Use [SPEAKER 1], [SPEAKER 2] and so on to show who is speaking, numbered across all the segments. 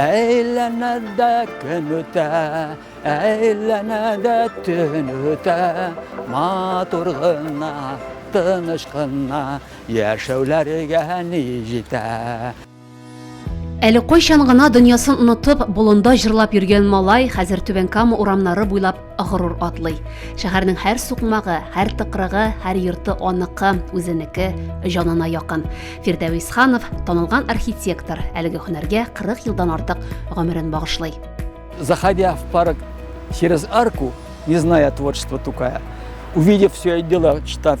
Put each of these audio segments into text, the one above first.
[SPEAKER 1] Әйләнә
[SPEAKER 2] дә көн үтә, әйләнә дә төн үтә, матур гына, тыныч кына яшәүләргә ни җитә.
[SPEAKER 3] Әле кайчан гына дөньясын онытып, болында җырлап йөргән малай хәзер Түбән Кама урамнары буйлап горур атлый. Шәһәрнең һәр сукмагы, һәр тыкрыгы, һәр йорты аныкы, үзенеке, җанына якын. Фирдәвис Ханов, танылган архитектор, әлеге һөнәргә 40 елдан артык гомерен багышлый. Заходя
[SPEAKER 2] в парк через арку, не зная творчества Тукая, увидев все это дело, читав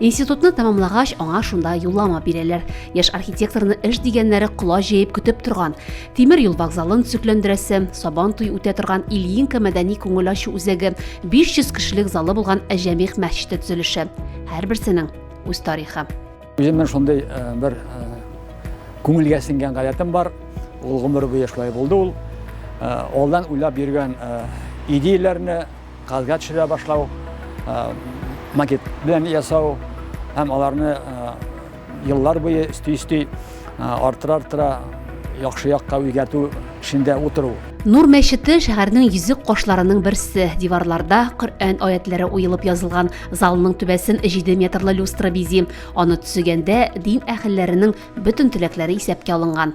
[SPEAKER 3] Институтны тәмамлагач, аңа шунда юллама бирәләр. Яшь архитекторны эш дигәннәре кола җәеп көтеп торган. Тимер юл вокзалын төзекләндерәсе, Сабан туй үтә торган Ильинка мәдәни күңел ачу үзәге, 500 кешелек залы булган Әҗәмих мәчете төзелеше. Һәрберсенең үз тарихы. Үземнең шундый э,
[SPEAKER 2] бер э, күңелгә сеңгән гадәтем бар. Ул гомер буе шулай булды ул. Э, алдан уйлап йөргән идеяләрне Газга төшерә башлау, макет белән ясау һәм аларны еллар буе өсти-өсти арттыра-арттыра яхшы якка үзгәртү эшендә утыру. Нур мәчете
[SPEAKER 3] шәһәрнең йөзек кашларының берсе. Диварларда Коръән аятьләре уелып язылган, залның түбәсен җиде метрлы люстра бизи. Аны төзегәндә дин әһелләренең бөтен теләкләре исәпкә алынган.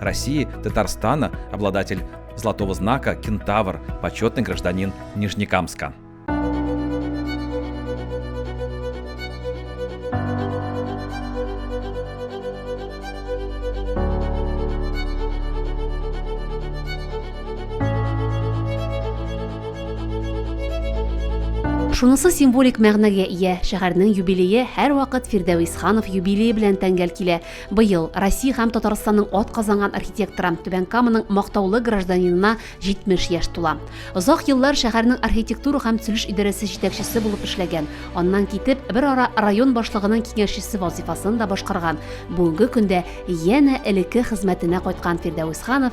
[SPEAKER 4] России, Татарстана, обладатель золотого знака «Кентавр», почетный гражданин Нижнекамска.
[SPEAKER 3] Шунысы символик мәгънәгә ия, шәһәрнең юбилее һәрвакыт Фирдәвис Ханов юбилее белән тәңгәл килә. Быел Россия һәм Татарстанның атказанган архитекторы, Түбән Каманың мактаулы гражданинына 70 яшь тула. Озак еллар шәһәрнең архитектура һәм төзелеш идарәсе җитәкчесе булып эшләгән, аннан китеп, бер ара район башлыгының киңәшчесе вазифасын да башкарган, бүгенге көндә янә элекке хезмәтенә кайткан Фирдәвес Ханов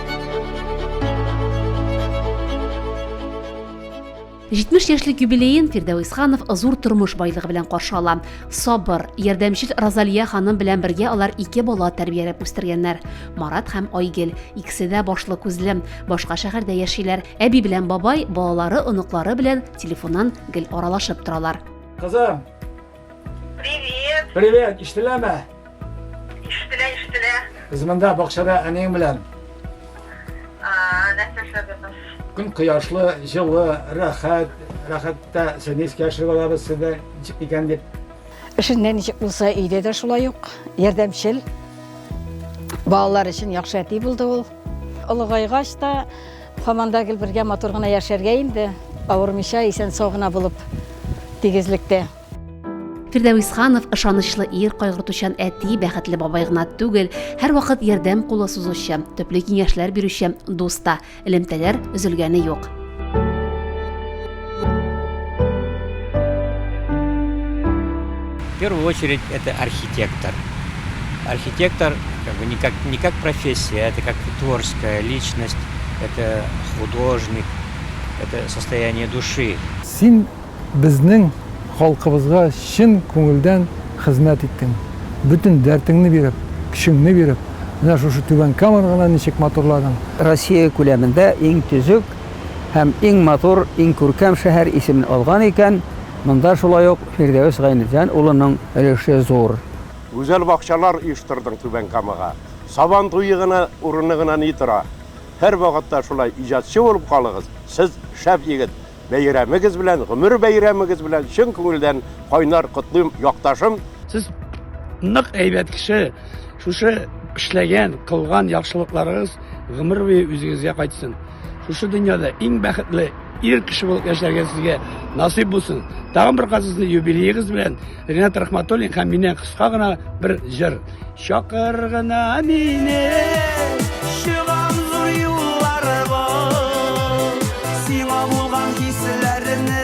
[SPEAKER 3] 70 яшьлек юбилеен Фирдәвис Ханов зур тормыш байлыгы белән каршы ала. Сабыр, ярдәмчел Розалия ханым белән бергә алар ике бала тәрбияләп үстергәннәр. Марат һәм Айгел, икесе дә башлы күзле, башка шәһәрдә яшиләр. Әби белән бабай балалары, оныклары белән телефоннан гел аралашып торалар. Кызым,
[SPEAKER 5] Привет! Привет!
[SPEAKER 2] Иштеләме? Иштелә,
[SPEAKER 5] иштелә. Без монда
[SPEAKER 2] бакчада әниең белән. Нәрсә
[SPEAKER 5] эшләдегез? Көн кояшлы,
[SPEAKER 2] җылы, рәхәт, рәхәттә сезне искә төшереп алабыз сездә ничек икән дип. Эшендә ничек
[SPEAKER 6] булса, өйдә дә шулай ук. Ярдәмчел. Балалар өчен яхшы әти булды ул. Олыгайгач та, һаман да гел бергә матур гына яшәргә инде, авырмыйча, исән-сау гына булып, тигезлектә.
[SPEAKER 3] Фирдәвис Ханов ышанычлы ир, кайгыртучан әти, бәхетле бабай гына түгел, һәрвакыт ярдәм кулы сузучы, төпле киңәшләр бирүче дус та, элемтәләр өзелгәне юк.
[SPEAKER 7] В первую очередь это архитектор. Архитектор как бы не как, не как профессия, это как творческая личность, это художник, это состояние души. Син
[SPEAKER 8] безнең халкыбызга чын күңелдән хезмәт иттең. Бөтен дәртеңне биреп, көчеңне биреп, менә шушы түбән камераны ничек матурладың. Россия күләмендә
[SPEAKER 9] иң төзек һәм иң матур, иң күркәм шәһәр исемен алган икән, монда шулай ук Фирдәвес Гайнетдин улының өлеше зур. Гүзәл бакчалар
[SPEAKER 10] оештырдың Түбән Камага. Сабан туе гына урыны гына ни тора. Һәрвакытта шулай иҗатчы булып калыгыз, сез шәп егет! Бәйрәмегез белән, гомер бәйрәмегез белән чын күңелдән кайнар котлыйм, якташым! Сез
[SPEAKER 11] нык әйбәт кеше, шушы эшләгән, кылган яхшылыкларыгыз Гомер буе үзегезгә кайтсын. Шушы дөньяда иң бәхетле ир кеше булып яшәргә сезгә насыйп булсын. Тагын бер казызны юбилеегыз белән Ренат Рахматуллин һәм миннән кыска гына бер җыр. Чакыр гына мине, чыгам зур юлларга, сиңа булган хисләрне.